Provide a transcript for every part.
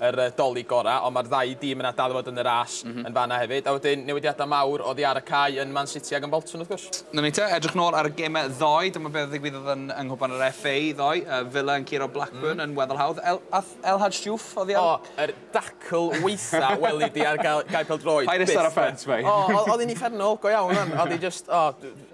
yr Dolig gorau, ond mae'r ddau dîm yna dal i fod yn y ras yn fan'na hefyd. A wedyn, newidiadau mawr oddi ar y cae yn Man City ac yn Bolton, wrth gwrs. 'Na ni te, edrych nôl ar y gemau ddoe, dyma beth ddigwyddodd yn yng Nghwpan yr FA ddoe. Villa yn curo Blackburn yn weddol hawdd. El, ath El Hadj Diouf oddi ar y... O, yr dacl weitha weli di ar gael, gael pêl-droed. Paid ista ar y ffens, mate. O, oedd hi'n uffernol, go iawn, oedd hi jyst, o,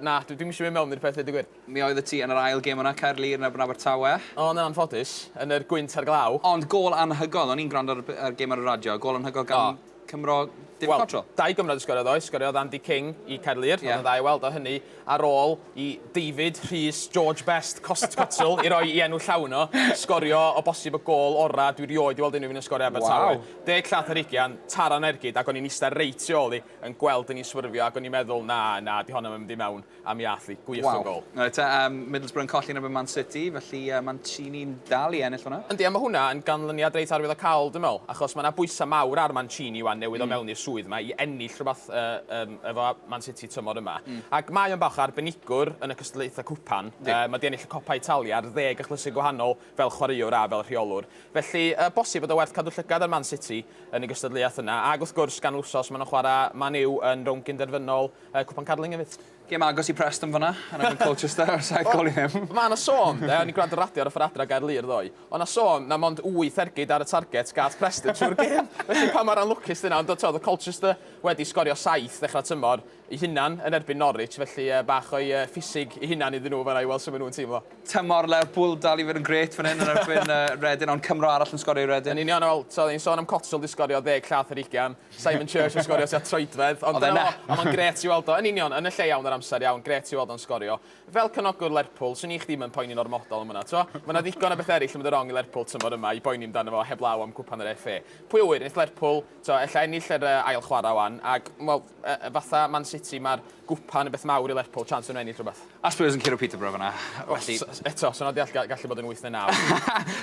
na, dwi'm eisiau mynd mewn i'r peth, dweud y gwir. Mi oeddet ti yn yr ail gêm yna, Caerlŷr yn erbyn Abertawe. O, yn anffodus, yn yr gwynt a'r glaw. Ond gôl anhygoel, o'n i'n gwrando ar y gêm ar y radio, gôl anhygoel gan Cymro David Cottrell. Wel, dau gymro 'di sgorio ddoe, sgoriodd Andy King i Caerlŷr, oedd yn dda i weld o, hynny ar ôl i David, Rhys, George Best, Cottrell, i roi i enw llawn o, sgorio o bosib y gôl orau dwi rioed 'di weld unrhyw un yn sgorio Abertawe. Deg llath ar ugian, taro yn ergyd, ac o'n i'n ista reit tu ôl i, yn gweld yn i swyrfio, ac o'n i'n meddwl, na, na, 'di honno'm yn mynd i mewn. A mi ath hi. Gwych o gôl. Waw. Reit te, um, Middlesbrough yn colli yn erbyn Man City, felly uh, Mancini'n dal i ennill hwnna. Yndi, a mae hwnna yn ganlyniad reit arwyddocaol, dwi'n meddwl, achos mae yna bwysau mawr ar Mancini wan newydd mm. o mewn i'r swydd yma i ennill rhywbeth uh, um, efo Man City tymor yma. Mm. Ac mae o'n bach arbenigwr yn y cystadlaethau cwpan. Uh, mae di ennill y Copa Italia ar ddeg achlysur gwahanol fel chwaraewr a fel rheolwr. Felly, uh, bosib bod o werth cadw llygad ar Man City yn y gystadleuaeth yna. Ac wrth gwrs, gan wrsos maen nhw'n chwarae Man U yn rownd gynderfynol Yy, cwpan Carling efyd. Gêm agos i Preston fanna, yn erbyn Colchester ar saith gol i ddim. Ma' 'na sôn, yy, o'n i'n gwrando ar radio ar y ffor adra o Gaerlŷr ddoe, o' 'na sôn na mond wyth ergyd ar y target gath Preston trwy'r gêm, felly pa mor anlwcus 'di hynna, ond t'od o'dd Colchester wedi sgorio saith ddechrau'r tymor 'u hunan yn erbyn Norwich, felly yy, bach o'i yy, ffisig 'u hunan iddyn nhw fanna i weld sut ma' nhw'n teimlo. Tymor Lerpwl dal i fod yn grêt fan hyn yn erbyn yy Reading, ond Cymro arall yn sgorio i Reading. Yn union, wel, t'od, ni'n sôn am Cotswold 'di sgorio ddeg llath ar ugian, Simon Church yn sgorio tua troedfedd, ond dyna fo, a mae'n grêt i weld o, yn union, yn y lle iawn yr amser iawn, grêt i weld o'n sgorio. Fel cefnogwr Lerpwl, swn i chdi ddim yn poeni'n ormodol am hwnna, t'mo'? Ma' 'na ddigon o bethe eraill yn mynd yn rong i Lerpwl tymor yma i boeni amdano fo heblaw am Gwpan yr FA. Pwy a ŵyr, neith Lerpwl, t'mo', ella ennill yr yy ail chwara' 'wan, ac, wel, yy fatha Man City, ma'r Gwpan yn beth mawr i Lerpwl, chance ma' nhw'n ennill rwbeth. A Spurs yn curo Peterborough fanna, felly... O, s- eto, sy'n od deall ga- gallu bod yn wyth neu naw.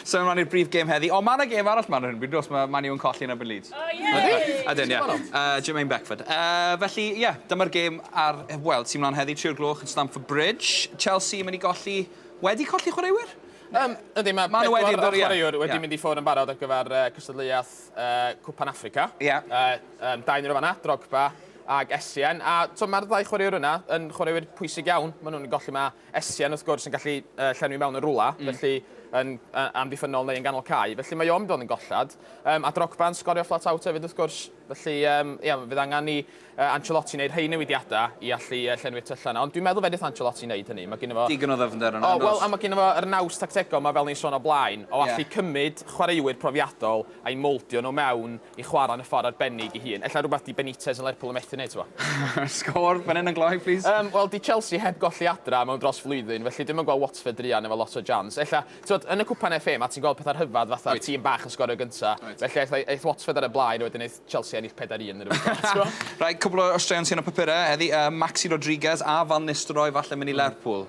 Symud mlaen i'r brif gêm heddi. O, ma' 'na gêm arall mlan ar hyn o bryd, does? Ma' Man U yn colli yn erbyn Leeds. O, ie! Ydyn! Ydyn, ie. Ti'n gwbod pam? Yy, Jermaine Beckford. Yy, felly, ie, dyma'r gêm ar, yy, wel, sy mlan heddi, tri o'r gloch yn Stamford Bridge. Chelsea yn mynd i golli, wedi colli chwaraewyr? Yym, yndi, ma' Ma' nhw wedi, pedwar o'r yndw, ie. chwaraewr wedi Ie. mynd i ffwr' yn barod ar gyfer yy cystadleuaeth yy Cwpan Affrica. Ie. Yy, yym, dau yn y fan 'na, Drogba, ag Essien, a t'o' ma'r ddau chwaraewr yna yn chwaraewyr pwysig iawn, ma' nhw'n golli, ma' Essien wrth gwrs yn gallu yy llenwi mewn yn rwla, mm. felly yn uh, amddiffynnol neu yn ganol cae, felly mae o'n mynd o'n yn gollad. Um, a Drogba yn sgorio flat out hefyd wrth gwrs, felly um, ia, fydd angen i uh, Ancelotti wneud rhai newidiadau i allu uh, llenwi'r tyllau yna, ond dwi'n meddwl fedrith Ancelotti wneud hynny. Mae gyda fo... Digon o ddyfnder yna. O, wel, a mae gyda fo yr naws tactegol mae fel ni'n sôn o blaen, o allu yeah. cymryd chwaraewyr profiadol a'i moldio nhw mewn i chwarae yn y ffordd arbennig ei hun. Ella rhywbeth 'di Benitez yn Lerpwl yn methu wneud, ti'n gwybod? Sgôr fan hyn yn gloi, plis. Yym, wel, 'di Chelsea heb golli adra mewn dros flwyddyn, felly dwi'm yn gweld Watford druan efo lot o jans. Ella, ti'n gwybod, yn y Cwpan FA, mae ti'n gweld pethau rhyfedd fatha tîm bach yn sgorio gynta', felly aeth aeth Watford ar y blaen a wedyn aeth Chelsea ennill pedair un neu rywbeth fel 'na, ti'n gwybod? Reit, cwpl o straeon sy yn y papurau heddi, yy, Maxi Rodriguez a Van Nistelrooy falle mynd i Lerpwl.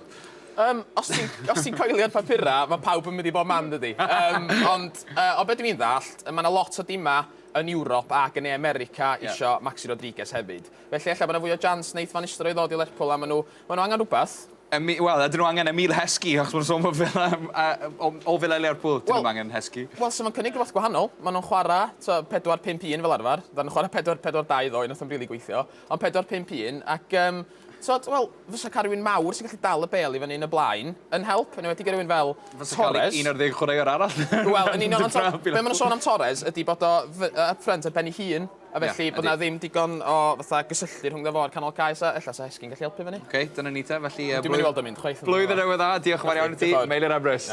Yym, os ti'n os ti'n coelio'r papurau, mae pawb yn mynd i bob man, yn dydi? Yym, ond yy, o be dwi'n ddallt, mae yna lot o dimau yn Ewrop ac yn Ne America isio Maxi Rodriguez hefyd. Felly ella bod yna fwy o jans wneith Van Nistelrooy ddod i Lerpwl a maen nhw maen nhw angen rhywbeth. Emi- wel, ydyn nhw angen Emile Heskey, achos maen nhw'n sôn bod Villa yym a- yy o o Villa i Lerpwl, dyn nhw ddim angen Heskey. Wel, so mae'n cynnig rhywbeth gwahanol. Maen nhw'n chwarae tibod pedwar pump un fel arfer. Ddaru nhw chwarae pedwar pedwar dau ddoe, wnaeth o'm rili gweithio. Ond pedwar pump un ac yym... Tod, wel, fysa cael rhywun mawr sy'n gallu dal y bel i fyny yn y blaen yn help, yn enwedig i rywun fel Torres. Fysa cael 11 chwaraewr arall. Wel, yn union, ond be maen sôn am Torres ydy bod o up front ar ben ei hun, a felly yeah, bod na ddim digon o fatha gysylltu rhwng dda fo'r canol caes a ella sa Hesgyn gallu helpu fyny. Oce, okay, dyna ni te, felly... Dwi'n mynd i weld o'n mynd chwaith. Blwyddyn newydd dda, diolch yn fawr iawn i ti, Meilir Emrys.